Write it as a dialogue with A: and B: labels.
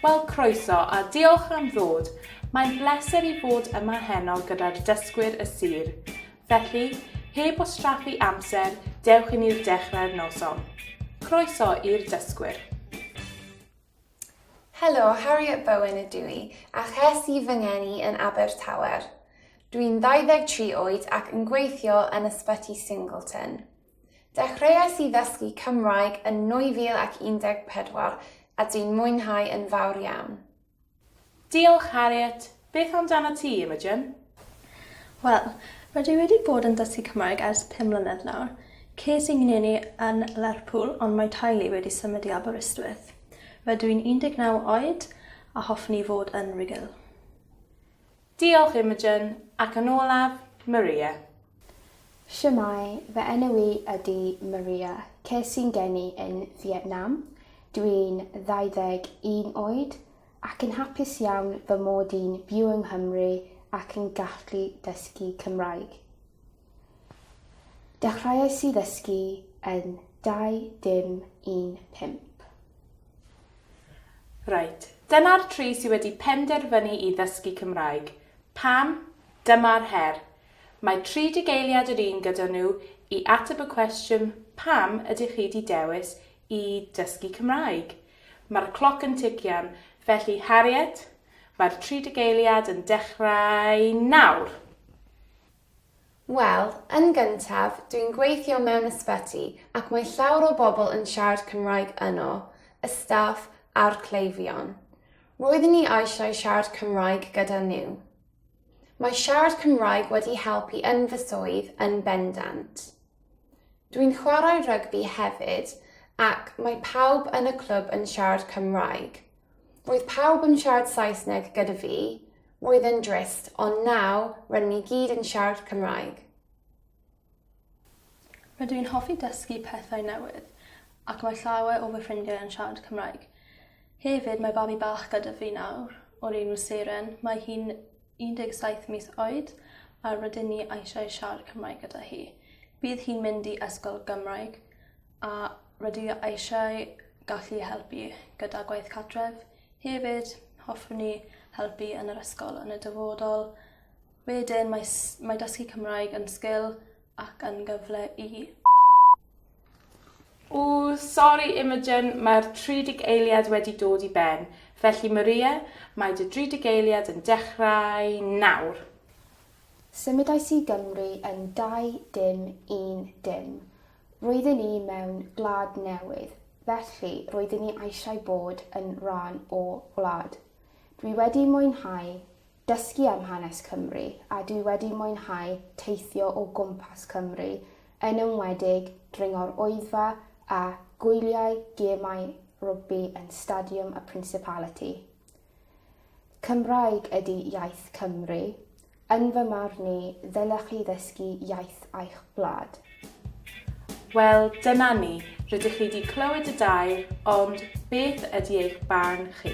A: Wel, croeso, a diolch am ddod. Mae'n bleser i fod yma heno gyda'r dysgwyr y sir. Felly, heb wastraffu amser, dewch i ni'r dechrau'r noson. Croeso i'r dysgwyr.
B: Helo, Harriet Bowen ydw i, a ches i fy ngeni yn Abertawer. Dwi'n 23 oed ac yn gweithio yn Ysbyty Singleton. Dechreuais i ddysgu Cymraeg yn 2014 a dwi'n mwynhau yn fawr iawn. Diolch,
A: Harriet. Beth amdanat ti, Imogen? Wel,
C: rydw i wedi bod yn dysgu Cymraeg ers pum mlynedd nawr. Ces i ngeni yn Lerpwl ond mae teulu wedi symud i Aberystwyth. Rydw i'n 19 oed a hoffwn i fod yn Rugl.
A: Diolch Imogen, ac yn olaf, Maria.
D: Shwmae, fy enw i ydi Maria, ces i'n geni yn Fietnam, dw i'n 21 oed ac yn hapus iawn fy mod i'n byw yng Nghymru ac yn gallu dysgu Cymraeg. Dechreuais i ddysgu yn 2015.
A: Reit, dyna'r tri sydd wedi penderfynu i ddysgu Cymraeg. Pam? Dyma'r her. Mae tri digeiliad yr un gyda nhw i ateb y cwestiwn pam ydych chi wedi dewis i dysgu Cymraeg? Mae'r cloc yn tician, felly Harriet, mae'r tri digeiliad yn dechrau nawr!
B: Wel, yn gyntaf, dwi'n gweithio mewn ysbyty ac mae llawer o bobl yn siarad Cymraeg yno, y staff a'r cleifion. Roeddwn ni eisiau siarad Cymraeg gyda nhw. Mae siarad Cymraeg wedi helpu yn fy swydd yn bendant. Dwi'n chwarae rygbi hefyd ac mae pawb yn y clwb yn siarad Cymraeg. Roedd pawb yn siarad Saesneg gyda fi, Oedd yn drist, ond nawr rydyn ni gyd yn siarad Cymraeg.
C: Rydw i'n hoffi dysgu pethau newydd ac mae llawer o fy ffrindiau yn siarad Cymraeg. Hefyd, mae babi bach gyda fi nawr, o'r enw Seren. Mae hi'n 17 mis oed a rydyn ni eisiau siarad Cymraeg gyda hi. Bydd hi'n mynd i ysgol Gymraeg. A rydw i eisiau gallu helpu gyda gwaith cartref. Hefyd hoffwn i helpu yn yr ysgol yn y dyfodol. Wedyn mae s- mae dysgu Cymraeg yn sgil ac yn gyfle i
A: Ww sori Imogen, mae'r tridig eiliad wedi dod i ben. Felly Maria, mae dy dridig eiliad yn dechrau nawr.
D: Symudais i Gymru yn dau dim un dim. Roedden ni mewn gwlad newydd, felly roedden ni eisiau bod yn rhan o wlad. Dwi wedi mwynhau dysgu am hanes Cymru a dwi wedi mwynhau teithio o gwmpas Cymru, yn enwedig dringo'r Oeddfa a gwyliau gemau rygbi yn Stadiwm y Principality. Cymraeg ydi iaith Cymru. Yn fy marn i, ddylech chi ddysgu iaith eich gwlad.
A: Wel, dyna ni, rydych chi 'di clywed y dair, ond beth ydi eich barn chi?